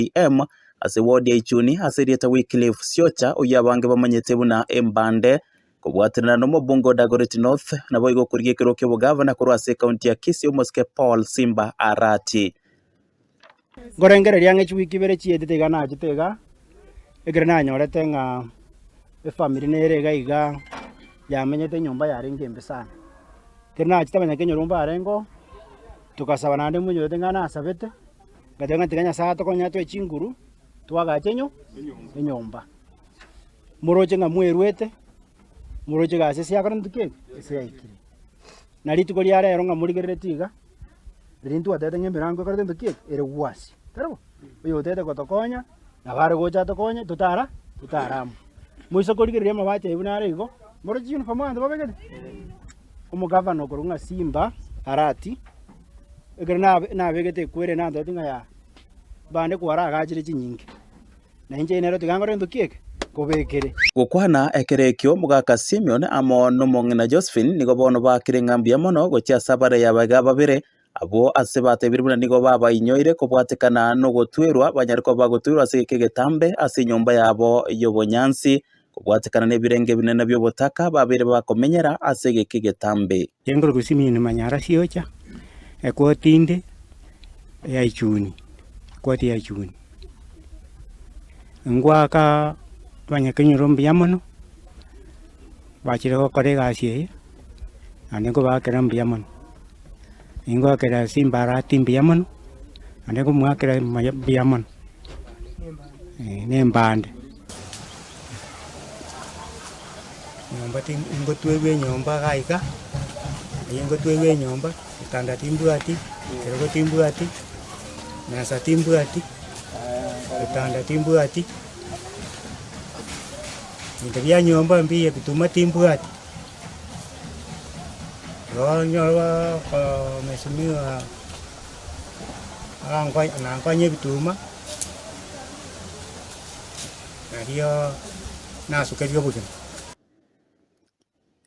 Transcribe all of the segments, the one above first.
UTM, ase ward ya Ichuni ase erieta Wycliffe Siocha oyio abange bamanyete buna Embande, kobwatanera nomobungo Dagoretti North, naboigo okorigia ekerogo ki'obogavana korwa ase ekaunti ya Kisii omosike Paul Simba Arati. Nkorengereria ng'a chiweek ibere chietete iga nachete iga, ekero nanyorete ng'a efamiri nere iga iga yamenyete enyomba yarenge embe sana. Ekero nachete abanyakenya nyomba yarengeo, togasaba naende monyorete ng'a nasabete, Ngateba ng'a tiga Nyasae atokonyatwe chinguru twagache enyo enyomba. Moroche ng'a mweruete, moroche ga ase esiakorente ki? Esiaikire. Na rituko ria rero ng'a morigerereti iga, riria intwe twatete ng'a emerango ekorete ntwe ki? Ere gwasi. Taribo? Oyo otete gotokonya, nabo are gocha atokonye totara totaramwe. Moise korigereria amabati aye buna are igo, moroche uniform abanto babegete? Omogavana okorokwa ng'a Simba Arati. ekero nabe- nabegete ekwere nantoti ng'a yaaaa, bande kwaragachire chinyinki, na inche nero tiga nkore gento ki'eke, nkobekere. Gokwana ekero ekio, mogaka Simion amo nomong'ina Josephine nigo bono baakire ng'a mbuya mono gochia ase abarei abaiga babere. Abwo ase batebirie buna nigo babainyoire kobwatekana nogotwerwa banyare koba bagotoirwa ase egeka egetambe ase enyomba yabo y'obonyansi, kobwatekana nebirenge ebinene bi'obotaka babeire bakomenyera ase egeka egetambe. Chinguru Gusimiini manyara siocha, ekoti inde ya ichuni, ekoti ya ichuni. Ngoaka abanyakenyoro mbuya mono, bachire gokora egasi eye. naende nkobaakera mbuya mono. Ningoakera ase embarati mbuya mono, naende nkomoakera maya mbuya mono, eh, na embande. Nyomba ti ingotwegwa enyomba iga iga, eyio ingotwegwa enyomba, etanda timbwati, ekerogo timbwati, mesa timbwati, ebitanda timbwati, ebinto bia nyomba mbiya ebituma timbwati. Nonya baka mheshimiwa akankonya nankonya ebituma, erio nasukeria obogima.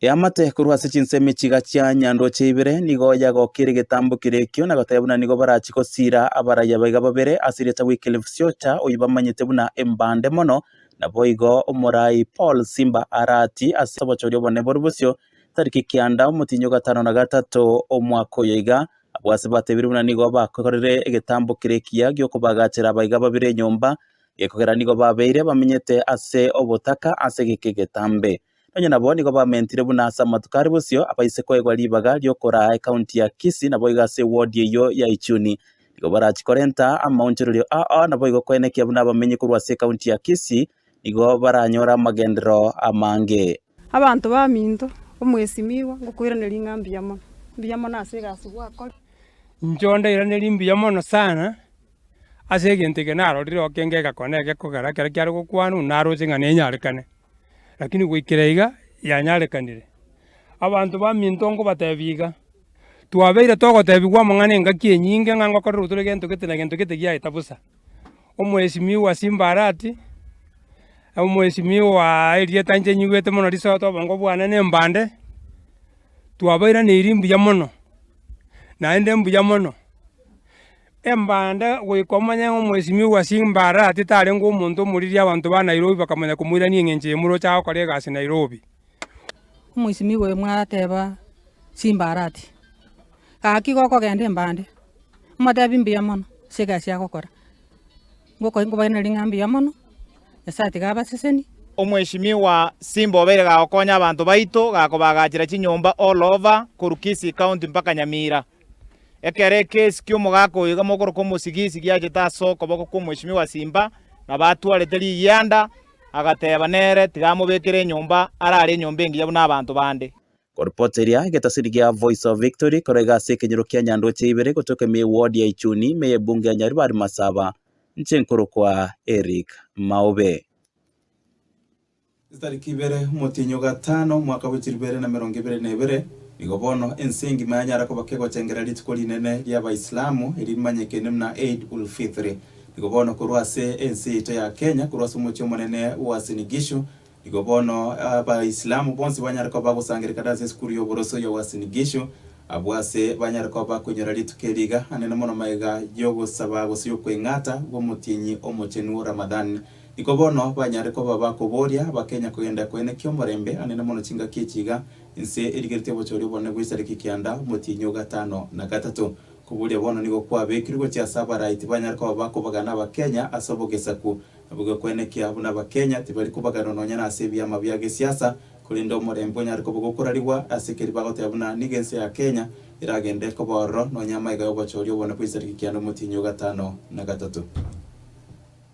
Eamate korwa ase chinsemi chiga chia nyanroche ibere, nigo yagokire egetambo kere ekio, na goteba buna nigo barachie gosiira abaraiabaiga babere ase erieta Wycliffe Siocha, oyio bamanyete buna Embande mono, Naboigo omorai Paul Simba aratii ase obochori obonene boria bosio tariki kianda omotienyi ogatano na gatato omwaka oyo iga, abwo ase batebire buna nigo bakorire egetambo kere ekiya gi'okobagachera abaiga babere enyomba, gekogera nigo babeire bamenyete ase obotaka ase geke egetambe. Nonye nabo nigo bamentire buna ase amatuko are bosio abaise koegwa ribaga riokoraa ekaunti ya Kisii naboigo ase ewodi eyio ya Ichuni. Nigo barachi korenta amaonchorerio ao naboigo koenekia buna abamenyi korwa ase ekaunti ya Kisii nigo baranyore amagenderero amange. Abanto baminto, omwesimigwa, ngokoiraneria ng'a mbuya mono, mbuya mono ase egasi gwakore. Inche onde iraneria mbuya mono sana ase egento eke narorire oke ngegakora na egekogera ekero kiare gokwanwa naroche ng'a nenyarekane. Rakini goikera iga yanyarekanire. Abanto baminto ngobatebi iga, twabeire togotebigwa amang'ana engaki enyinge ng'a ngokorera otore gento gete na gento gete giaeta bosa. Omwesimio wa simba arati, omwesimio waa erieta inche nyigwete mono risoto obongo bwane ne mbande, twabairaneiri mbuya mono, naende mbuya mono. Embanda goika omonyene ng'omwesimigwa bwa chimbaara ati tarenge omonto omoririe abanto ba Nairobi bakamanya komoirania eng'encho eye moroche agokora egasi Nairobi. Omwesimigwa oyo mwateba chimbaara ati, Gaki gokogenda embande, motebi mbuya mono ase egasi agokora. Ngokoe nkobaenere ring'a mbuya mono, Nyasae atiga abaseseni. Omwesimigwa Simba obeire gagokonya abanto baito, gakobagachera chinyomba all over korwa Kisii County mpaka Nyamira. Ekero ekesi ki'omogaka oyo iga mogokoroka omosigisi giachete ase okoboko kw'omweshimiwa Simba na batwarete rigianda, agateba nere tiga amobekere enyomba arare enyomba engiya buna abanto bande. Koripoti eria egetasini gia Voice of Victory koraiga ase ekenyoro kia Nyandoche ibere gotoka ime ye ward ya Ichuni ime ye Bunge ya Nyaribari Masaba nche nkorokwa Eric Maobe. Chitariki ibere, omotienyi o gatano, omwaka bwe chiribere na merongo ebere na ebere, nigo bono ense engima yanyara koba kegochengera rituko rinene ria Abaisilamu, eri rimanyekene buna Eid ul Fitri. Nigo bono korwa ase ense yaito ya Kenya, korwa ase omochie omonene Uasin Gishu, nigo bono Abaisilamu bonsi banyare koba bagosangererekana ase esukuru ya oboroso ya Uasin Gishu, abwo ase banyare koba bakonyora rituko eri iga anene mono magega y'ogosaba gose y'okweng'ata gw'omotienyi omochenu Ramadhan. Iko bono banyare koba bakoboria bakenya kogenda koenekia omorembe anene mono chingaki echi iga, Inse erigeretie obochori obonene bw'esariki kianda, omotienyi o gatano na gatato. Koboria bono nigo kwabekirwe gochia ase abarai tibanyare koba bakobagana abakenya ase obogesaku. Nabo gekoenekia buna abakenya tibari kobaganwa nonya nase ebiama bia gesiasa, korende omorembe onyare koba gokorarigwa ase keria bagoteba buna nigo ense ya Kenya eragende koba ororo nonya amaiga y'obochori obonene bw'esariki kianda, omotienyi o gatano na gatato.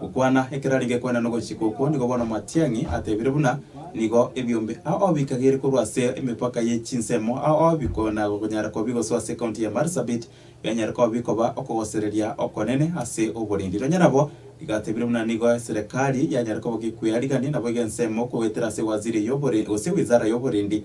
Gokwana ekerari gekwana nogochika okwo nigo bono Matiang'i atebire buna nigo ebiombe ao bikagere korwa ase emepaka ye chinsemo ao bikona gokonyara kobi gosoa ase county ya Marsabit bianyare kobi koba okogosereria okonene ase oborindi nonya nabo igatebire buna nigo eserekari yanyare koba gekwea rigani nabo egensemo koetera ase waziri y'oborindi gose wizara y'oborindi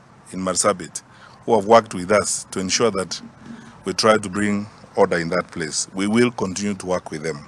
in Marsabit who have worked with us to ensure that we try to bring order in that place. We will continue to work with them.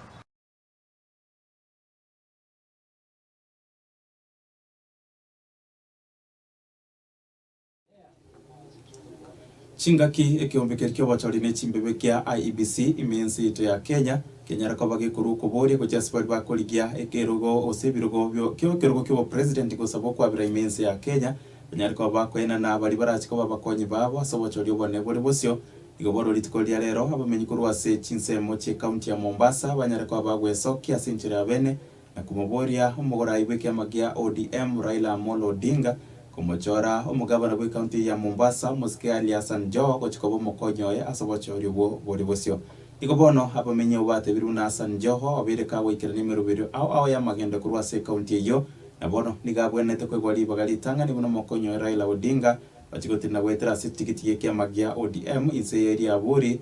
Chingaki ekeombe keria ki'obochori ne chimbebe kia IEBC ime ense yaito ya Kenya, kenyare koba gekorwa okoboria gochia ase baria bakorigia ekerogo gose ebirogo bio kekerogo ki'obopresident gosaba okwabera ime ense ya Kenya, banyare koba bakoina na baria barache koba abakonyi babo ase obochoria obonene bore bosio. Igo bono rituko riria rero, abamenyi korwa ase chinsemo chi'ekaunti ya Mombasa banyare koba bagwesokia ase enchera y'abene na komoboria omogorai bw'ekiama gia ODM, Raila Amolo Odinga, komochora omogabana bw'ekaunti eye ya Mombasa, Omosike Ali Hassan Joho, gochia koba omokonyi oye ase obochoria obwo bore bosio. Igo bono, abamenyi abwo batebirwe na Hassan Joho obeire kagoikerania emeroberio ao ao y'amagendo korwa ase ekaunti eyio, Na bono nigo agwenerete koigwa ribaga ritang'ani buna omokony'oe Raila Odinga ochia gotinda goetera ase etigiti y'ekiama gia ODM inse y'eriaburi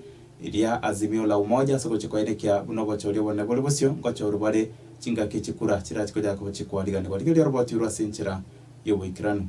ria Azimio la Umoja ase ogochia koenekia buna obochori obonene bore bosio ngochorwa bare chingaki chikura chirachi koyaka gochia kwariganigwa rigerio oroboti rwe ase enchera y'oboikeranu.